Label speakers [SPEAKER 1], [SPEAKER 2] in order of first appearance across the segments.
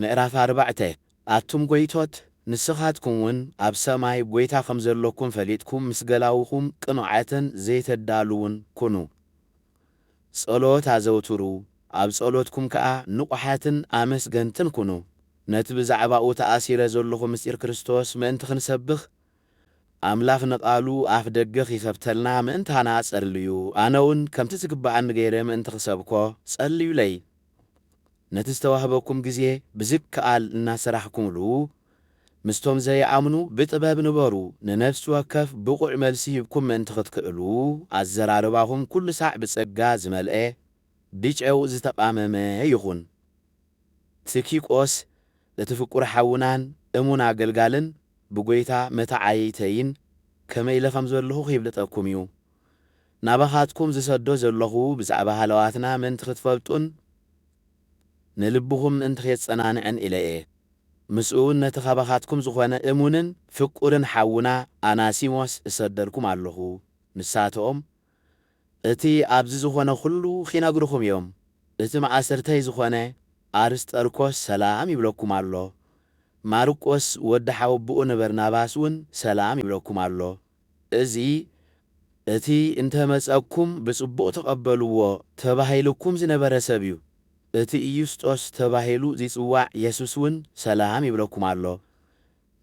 [SPEAKER 1] ምዕራፍ ኣርባዕተ፣ ኣቱም ጐይቶት፣ ንስኻትኩምውን ኣብ ሰማይ ጐይታ ኸም ዘሎኩም ፈሊጥኩም ምስ ገላዉኹም ቅኑዓትን ዘይተዳልዉን ኩኑ። ጸሎት ኣዘውትሩ፣ ኣብ ጸሎትኩም ከኣ ንቑሓትን ኣመስገንትን ኩኑ። ነቲ ብዛዕባኡ ተኣሲረ ዘሎኹ ምስጢር ክርስቶስ ምእንቲ ኽንሰብኽ፣ ኣምላኽ ንቓሉ ኣፍደገ ኺኸፍተልና ምእንታና ጸልዩ። ኣነውን ከምቲ ዚግብኣኒ ገይረ ምእንቲ ኽሰብኮ፣ ጸልዩለይ። ነቲ ዝተዋህበኩም ግዜ ብዝከኣል እናሰራሕኩምሉ ምስቶም ዘይኣምኑ ብጥበብ ንበሩ ንነፍሲ ወከፍ ብቑዕ መልሲ ሂብኩም ምእንቲ ክትክእሉ ኣዘራርባኹም ኩሉ ሳዕ ብጸጋ ዝመልኤ ብጨው ዝተቓመመ ይኹን። ትኪቆስ እቲ ፍቁር ሓውናን እሙን ኣገልጋልን ብጐይታ መተዓይይተይን ከመይ ኢለ ከም ዘለኹ ኺብልጠኩም እዩ። ናባኻትኩም ዝሰዶ ዘሎኹ ብዛዕባ ሃለዋትና ምእንቲ ኽትፈልጡን ንልብኹም ምእንቲ ኼጸናንዕን ኢለ እየ። ምስኡውን ነቲ ኻባኻትኩም ዝዀነ እሙንን ፍቁርን ሓውና ኣናሲሞስ እሰደልኩም ኣሎኹ። ንሳቶም እቲ ኣብዚ ዝዀነ ዅሉ ኺነግሩኹም እዮም። እቲ ማእስርተይ ዝዀነ ኣርስጠርኮስ ሰላም ይብለኩም ኣሎ። ማርቆስ ወዲ ሓወቦኡ ንበርናባስውን ሰላም ይብለኩም ኣሎ። እዚ እቲ እንተ መጸኩም ብጽቡቕ ተቐበልዎ ተባሂሉኩም ዝነበረ ሰብ እዩ። እቲ ኢዩስጦስ ተባሂሉ ዚጽዋዕ የሱስውን ሰላም ይብለኩም ኣሎ።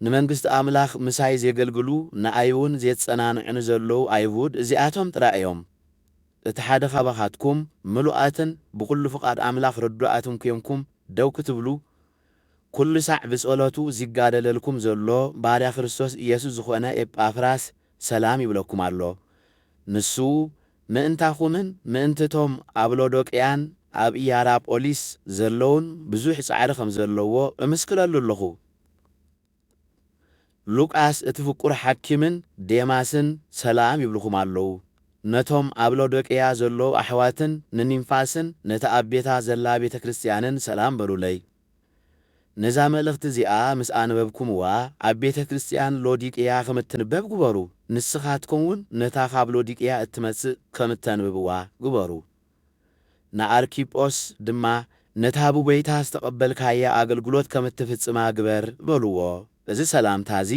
[SPEAKER 1] ንመንግስቲ ኣምላኽ ምሳይ ዜገልግሉ ንኣይውን ዜጸናንዑኒ ዘለዉ ኣይሁድ እዚኣቶም ጥራይ እዮም። እቲ ሓደ ኻባኻትኩም ምሉኣትን ብዅሉ ፍቓድ ኣምላኽ ርዱኣትን ኴንኩም ደው ክትብሉ ኩሉ ሳዕ ብጸሎቱ ዚጋደለልኩም ዘሎ ባርያ ክርስቶስ ኢየሱስ ዝኾነ ኤጳፍራስ ሰላም ይብለኩም ኣሎ። ንሱ ምእንታኹምን ምእንት'ቶም ኣብ ሎዶቅያን ኣብ ኢያራጶሊስ ዘለዉን ብዙሕ ጻዕሪ ኸም ዘለዎ እምስክረሉ ኣሎኹ። ሉቃስ እቲ ፍቁር ሓኪምን ዴማስን ሰላም ይብሉኹም ኣለዉ። ነቶም ኣብ ሎዶቅያ ዘለዉ ኣሕዋትን ንኒምፋስን ነታ ኣብ ቤታ ዘላ ቤተ ክርስትያንን ሰላም በሉለይ። ነዛ መልእኽቲ እዚኣ ምስ ኣንበብኩምዋ ኣብ ቤተ ክርስትያን ሎዲቅያ ኸም እትንበብ ግበሩ፣ ንስኻትኩምውን ነታ ኻብ ሎዲቅያ እትመጽእ ከም እተንብብዋ ግበሩ። ንኣርኪጶስ ድማ ነታ ብጐይታ ዝተቐበልካያ ኣገልግሎት ከም እትፍጽማ ግበር በልዎ። እዚ ሰላምታ እዚ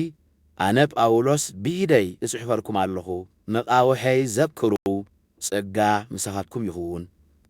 [SPEAKER 1] ኣነ ጳውሎስ ብኢደይ እጽሕፈልኩም ኣለኹ። መቓውሐይ ዘክሩ። ጸጋ ምሳኻትኩም ይኹን።